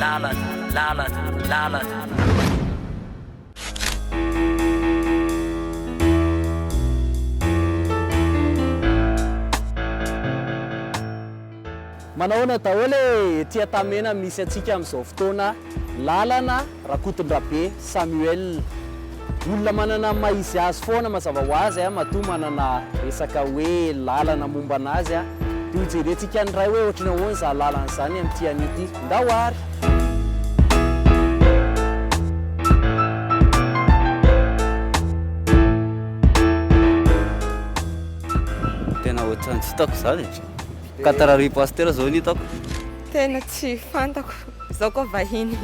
Lalana, lalana, lalana. Manahoana daholo e! Ety Antamena misy antsika amin'izao fotoana, lalana, Rakotondrabe Samuel. Olona manana ny maha izy azy foana mazava ho azy a, matoa manana resaka hoe lalana momba anazy a, de ho jerentsika ny iray hoe ohatrany ahoana izany lalana izany amin'ity anio ity. Ndao ary! Tena ohatran'ny tsy hitako izany e! Quatre arivo pasitera izao no hitako. Tena tsy fantako, izaho koa vahiny.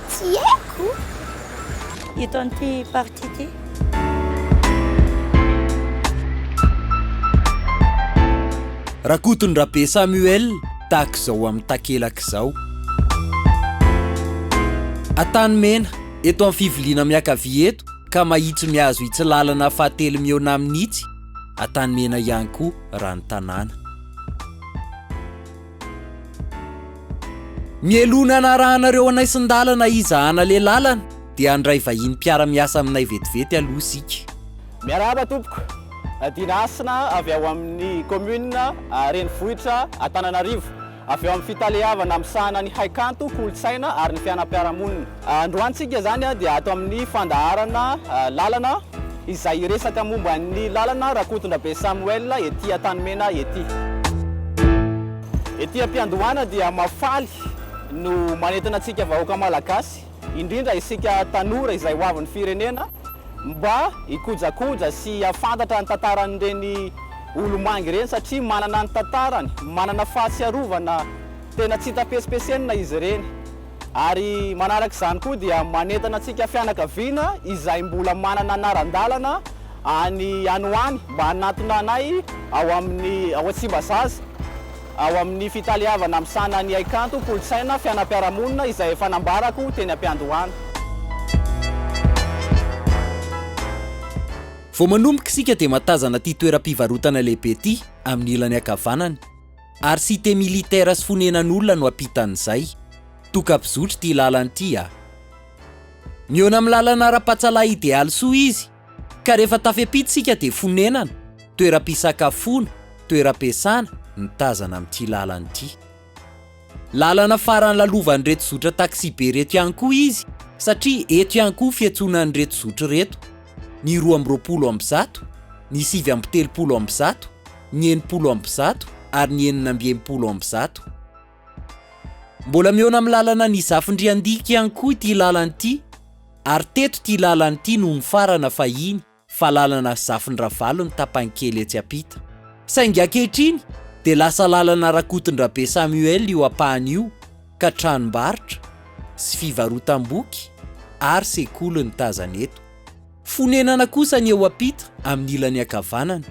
Tsy haiko eto amin'ity partie ity. Rakotondrabe Samuel tahaka izao amin'ny takelaka izao. Antanimena, eto amin'ny fiviliana miankavia eto ka mahitsy mihazo itsy lalana fahatelo mihaona amin'itsy Antanimena ihany koa raha ny tanàna. Mialoha ny hanarahanareo hanaisin-dalana iza hanale lalana dia handray vahiny mpiara-miasa aminay vetivety aloha isika. Miarahaba tompoko. Dina Hasina avy ao amin'ny Commune renivohitra Antananarivo. Avy ao amin'ny Fitaleavana misahana ny Haikanto, Kolontsaina ary ny Fianam-piarahamonina. Androantsika izany dia ato amin'ny fandaharana Lalana izay hiresaka momba ny lalana Rakotondrabe Samuel ety Antanimena ety. Ety am-piandohana dia mahafaly no manentana antsika vahoaka Malagasy, indrindra isika tanora izay ho avin'ny firenena mba hikojakoja sy hahafantatra ny tantaran'ireny olomangy ireny satria manana ny tantarany, manana fahatsiarovana tena tsy hita pesipesenina izy ireny. Ary manaraka izany koa dia manentana antsika fianakaviana izay mbola manana anaran-dalana any any ho any mba hanatona anay ao amin'ny ao Tsimbazaza ao amin'ny fitaleavana misahana ny haikanto, kolontsaina, fianam-piarahamonina izay efa nambarako teny am-piandohana. Vao manomboka isika dia mahatazana ity toeram-pivarotana lehibe ity amin'ny ilany ankavanana. Ary cité militaire sy fonenan'olona no ampitan'izay. Tokam-pizotry ity lalana ity a! Mihaona amin'ny lalana ara-pahatsalahy idealy soa izy, ka rehefa tafepita isika dia fonenana, toeram-pisakafoana, toeram-piasana ny tazana amin'ity lalana ity. Lalana farany lalovan'ireto zotra taxi-be ireto ihany koa izy satria eto ihany koa fiantsoana an'ireto zotra ireto ny roa amby roapolo amby zato, ny sivy amby telopolo amby zato, ny enimpolo amby zato ary ny enina amby enimpolo amby zato. Mbola mihaona amin'ny lalana ny Zafindriandika ihany koa ity lalana ity ary teto ity lalana ity no nifarana fahiny. fa lalana Zafin-dRavalo ny tapany kely etsy ampita. Saingy ankehitriny dia lasa lalana Rakotondrabe Samuel io ampahany io ka tranombarotra sy fivarotam-boky ary sekoly no tazana eto. Fonenana kosa ny eo ampita amin'ny ilany ankavanana.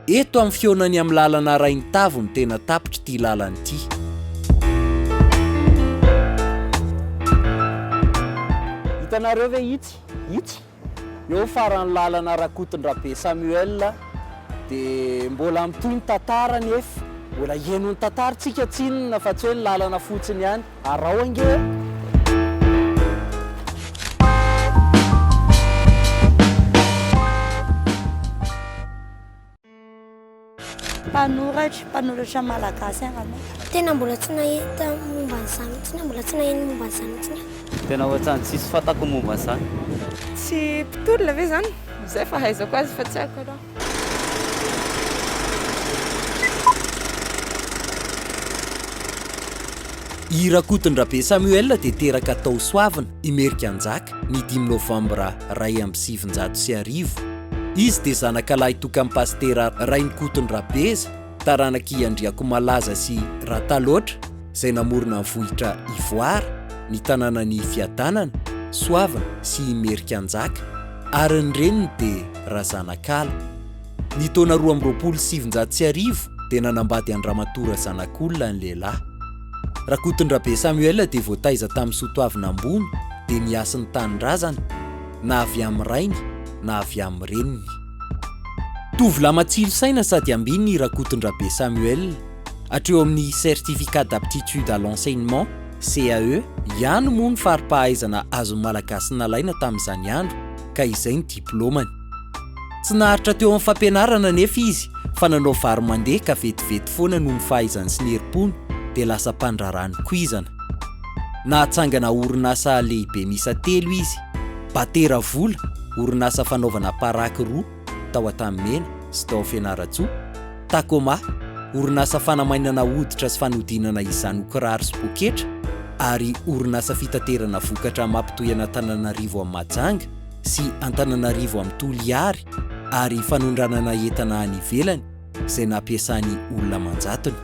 Eto amin'ny fihaonany amin'ny lalana Rainitavy no tena tapitr'ity lalana ity. Hitanareo ve itsy? Itsy? Eo faran'ny lalana Rakotondrabe Samuel dia mbola mitohy ny tantara anefa mbola hihaino ny tantara tsika tsinona fa tsy hoe ny lalana fotsiny ihany araho ange. Mpanoratra, mpanoratra malagasy angamba. Tena mbola tsy nahita momba an'izany mihitsy aho, mbola tsy naheno momba an'izany mihitsy aho. Tena ohatrany tsisy fantako momba an'izany. Tsy mpitolona ve izany? Izay fahaizako azy fa tsy haiko aloha. I Rakotondrabe Samuel dia teraka tao Soavina. Imerika Anjaka, ny dimy novambra iray amby sivinjato sy arivo. Izy dia zanakalahy tokan'i Pasitera Rainikoton Rabeza, taranak'i Andriakomalaza sy Rataloatra, izay namorona ny vohitra Ivoara, ny tanànan'i Fiadanana, Soavina sy Imerika Anjaka, ary ny reniny dia Razanakala. Ny taona roa amby roapolo sy sivinjato sy arivo dia nanambady an-dRamatoa Razanakolona ny lehilahy. Rakotondrabe Samuel dia voataiza tamin'ny soatoavina ambony dia miasy ny tanindrazany na avy amin'ny rainy na avy amin'ny reniny. Tovolahy matsilo saina sady ambiny i Rakotondrabe Samuel, hatreo amin'ny Certificat d'aptitude à l'enseignement, CAE, ihany moa ny fari-pahaizana azon'ny Malagasy nalaina tamin'izany andro ka izay ny diplaomany. Tsy naharitra teo amin'ny fampianarana anefa izy fa nanao vary mandeha ka vetivety foana noho ny fahaizany sy ny herim-pony dia lasa mpandraharaha nikoizana. Nahatsangana orinasa lehibe miisa telo izy, Batera Vola, orinasa fanaovana paraky roa, tao Antanimena sy tao Fianarantsoa, Tacoma, orinasa fanamainana hoditra sy fanodinana izany ho kiraro sy poketra, ary orinasa fitaterana vokatra mampitohy an'Antananarivo amin'i Mahajanga, sy Antananarivo amin'ny Toliary ary fanondranana entana any ivelany izay nampiasany olona aman-jatony.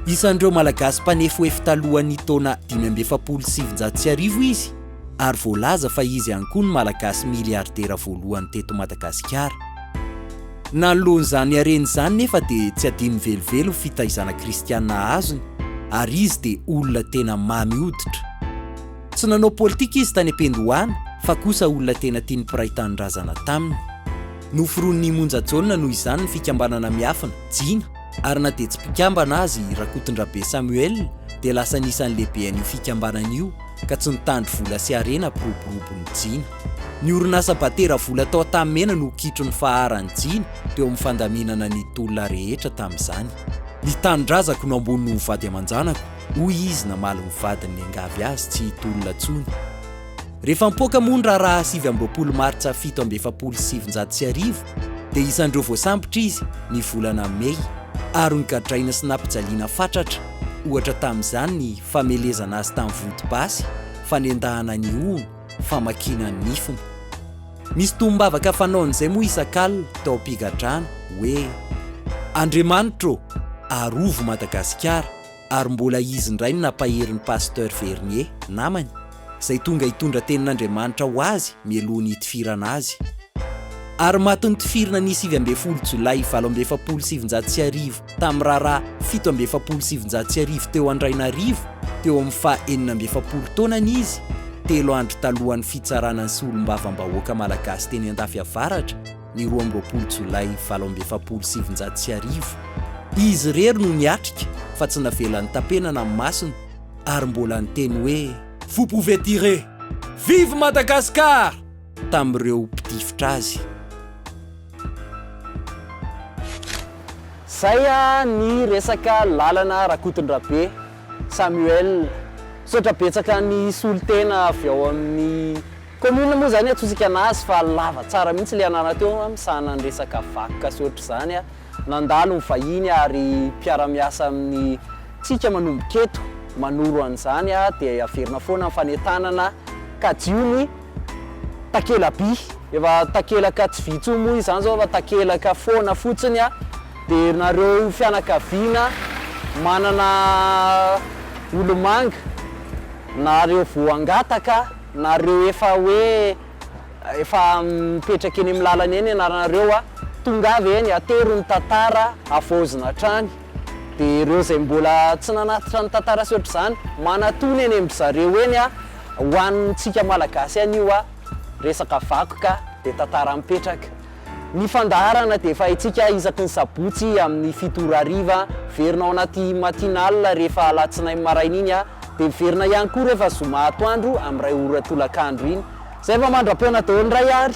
Isan'ireo Malagasy mpanefoefo talohan'ny taona dimy amby efapolo sy sivinjato sy arivo izy ary voalaza fa izy ihany koa no Malagasy miliardera voalohany teto Madagasikara. Nanoloan'izany hareny izany nefa dia tsy adinony velively ny fitaizana kristiana azony ary izy dia olona tena mamy hoditra. Tsy nanao politika izy tany am-piandohana fa kosa olona tena tian'ny mpiray tanindrazana taminy. Noforonin'i Imonja Jaona noho izany ny fikambanana miafina, Jina, ary na dia tsy mpikambana aza i Rakotondrabe Samuel dia lasa anisan'ny lehibe an'io fikambanana io ka tsy nitandro vola sy harena mpiroborobo ny Jina. Ny orinasa batera vola tao Antanimena no kitro ny faharan'ny Jina teo amin'ny fandaminana ny tolona rehetra tamin'izany. Ny tanindrazako no ambony noho ny vady aman-janako, Hoy izy namaly ny vadiny niangavy azy tsy hitolona intsony. Rehefa nipoaka moa ny raharaha sivy amby roapolo martsa fito amby efapolo sy sivinjato sy arivo dia isan'ireo voasambotra izy ny volana mey ary nogadraina sy nampijaliana fatratra ohatra tamin'izany ny famelezana azy tamin'ny vonto-basy, fanendahana ny hohony, famakiana ny nifiny. Misy tombavaka fanaony izay moa isak'alina tao am-pigadrana hoe Andriamanitra ô! arovy Madagasikara! ary mbola izy indray no nampahery ny Pasteur Vernier, namany, izay tonga hitondra tenin'Andriamanitra ho azy mialoha ny hitifirana azy. Ary maty notifirina ny sivy ambin'ny folo Jolay valo amby efapolo sy sivinjato sy arivo tamin'ny raharaha fito amby efapolo sy sivinjato sy arivo teo Andrainarivo, teo amin'ny faha enina amby efapolo taonany izy, telo andro talohan'ny fitsarana ny Solombavambahoaka Malagasy teny Andafy Avaratra. ny roa amby roapolo jolay valo amby efapolo sy sivinjato sy arivo, izy irery no niatrika fa tsy navelan'ny tapenana ny masony ary mbola niteny hoe. Vous pouvez tirer! Vive Madagascar! tamin'ireo mpitifitra azy. Zay ny resaka lalana Rakotondrabe Samuel. Misaotra betsaka ny solotena avy ao amin'ny. Commune moa zany antsointsika anazy fa lava tsara mihitsy le anarana teo a, misahana ny resaka vakoka sy ohatr'izany a, nandalo ny vahiny ary mpiara-miasa amin'ny tsika manomboka eto manoro an'izany a, dia averina foana ny fanentanana kajiho ny takelaby, efa takelaka tsy vy intsony moa izy zany zao fa takelaka foana fotsiny a, dia nareo fianakaviana manana olomanga na reo voangataka. Nareo efa hoe efa mipetraka eny amin'ny lalana eny ianaranareo a, tongava eny atero ny tantara havaozina hatrany, dia ireo izay mbola tsy nanatitra ny tantara sy ohatr'izany manatona eny amin-dry zareo eny a, ho antsika Malagasy ihany io a, resaka vakoka dia tantara mipetraka. Ny fandaharana dia efa haintsika isaky ny sabotsy amin'ny fito ora hariva, miverina ao anaty matinale rehefa alatsinainy maraina iny dia miverina ihany koa rehefa zoma atoandro amin'ny iray ora tolakandro iny. Izay fa mandra-poana daholo indray ary.